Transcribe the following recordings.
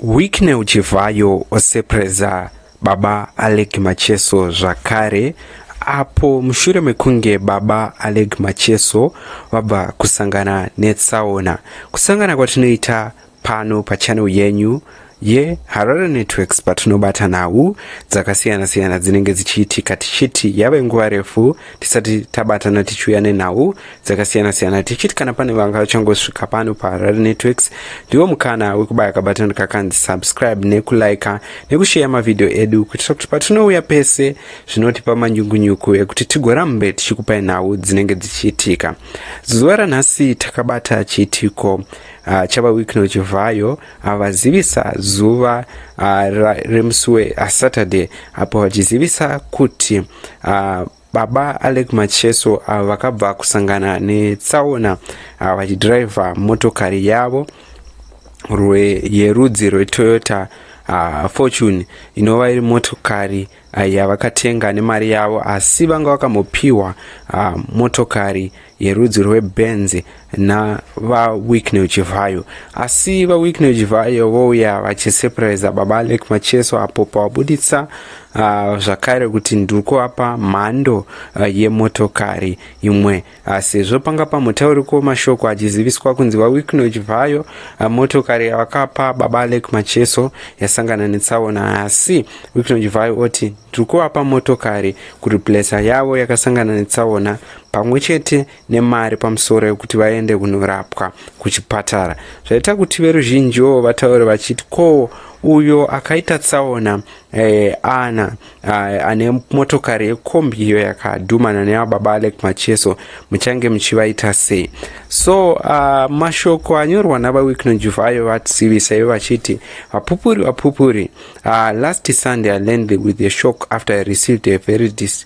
Wicknell Chivhayo sepreza baba Alec Macheso zvakare apo mushure mekunge baba Alec Macheso vabva kusangana netsaona. Kusangana kwatinoita pano pachannel yenyu yeHarare Networks patinobata nhau dzakasiyana siyana dzinenge dzichiitika tichiti yave nguva refu tisati tabatana tichiuya nenhau dzakasiyana siyana tichiti kana pane vanga vachangosvika pano paharare networks ndiwo mukana wekubaya kabatani kakanzi subscribe nekulika nekusheya mavhidhiyo edu kuitira kuti patinouya pese zvinotipa manyungunyuku ekuti tigorambe tichikupai nhau dzinenge dzichiitika zuva ranhasi takabata chiitiko uh, chava wikno chivhayo avazivisa ah, uh, zuva uh, remusi wesaturday apo vachizivisa kuti uh, Baba Alec Macheso ava vakabva kusangana netsaona ah, vachidhiraivha motokari yavo yerudzi rwetoyota uh, fortune inova iri motokari uh, yavakatenga nemari yavo asi vanga vakambopiwa uh, motokari yerudzi rwebenzi navawicknel chivhayo asi vawicknel chivhayo vouya vachisepuraiza baba alek macheso apo pavabuditsa uh, zvakare kuti ndiri kuvapa mhando uh, yemotokari imwe uh, sezvo panga pamutauriko mashoko achiziviswa kunzi vawicknel chivhayo uh, motokari yavakapa baba alek macheso yasangana netsaona asi wicknel chivhayo oti ndiri kuvapa motokari kureplesa yavo yakasangana netsaona pamwe chete nemari pamusoro yekuti vaende kunorapwa kuchipatara zvaita kuti veruzhinjiwo vataure vachiti ko uyo akaita tsaona eh, ana eh, ane motokari yekombi iyo yakadhumana nevababa alek macheso muchange muchivaita sei so uh, mashoko anyorwa navawicknojuv ayo vatsivisa ivo vachiti vapupuri vapupuri uh, last sunday i landed with a shock after i received a very dis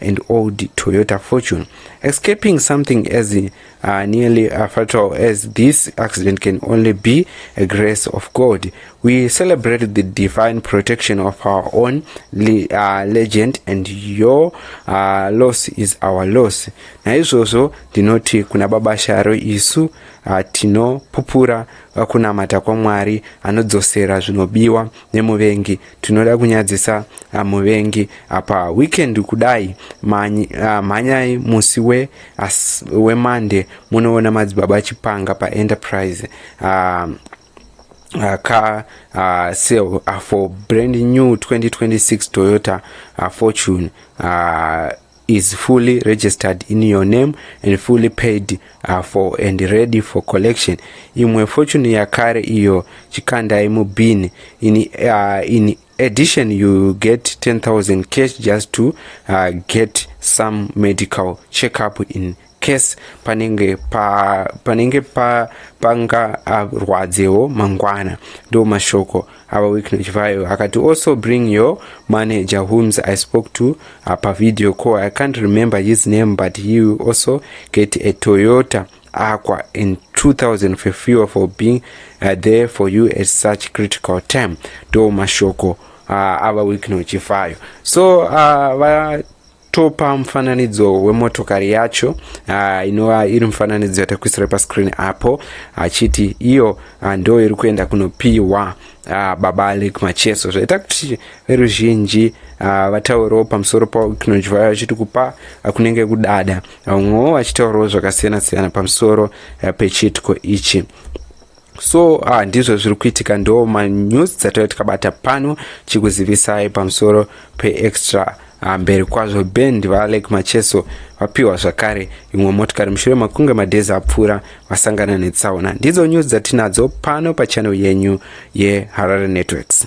and old Toyota Fortune. Escaping something as uh, nearly uh, fatal as this accident can only be a grace of God. We celebrate the divine protection of our own le uh, legend and your uh, loss is our loss. Naizvozvo ndinoti kuna baba Sharo isu uh, tinopupura uh, kunamata kwaMwari anodzosera zvinobiwa nemuvengi tinoda kunyadzisa ah, muvengi apa weekend kudai ah, mhanyai musi we wemande munoona madzibaba chipanga paenterprise ah, Uh, car uh, sale uh, for brand new 2026 Toyota uh, Fortune uh, is fully registered in your name and fully paid uh, for and ready for collection imwe fortune yakare iyo chikandai mubin in, uh, in addition you get 10000 cash just to uh, get some medical checkup in case panenge pa panenge pa panga arwadzewo mangwana ndo mashoko ava weeknage vayo akati also bring your manager whoms i spoke to apa uh, video call i can't remember his name but he will also get a toyota aqua in 2000 for fuel for being uh, there for you at such critical time ndo mashoko uh, ava weeknage vayo so uh, va topa mufananidzo wemotokari yacho uh, inova iri mufananidzo yatakuisira pascreen apo achiti iyo uh, ndo iri kuenda kunopiwa uh, baba alek macheso zvaita kuti veruzhinji uh, vataurawo pamusoro pakinonjwa vachiti kupa uh, kunenge kudada vamwewo uh, vachitaurawo zvakasiyana siyana pamusoro uh, pechiitiko ichi so uh, ndizvo zviri kuitika ndo manews dzataiva tikabata pano chikuzivisai pamusoro peextra ah, mberi uh, kwazvo band vaalek macheso vapiwa zvakare imwe motikari mushure makunge madhezi apfuura vasangana netsaona ndidzo news dzatinadzo pano pachannel yenyu yeharare networks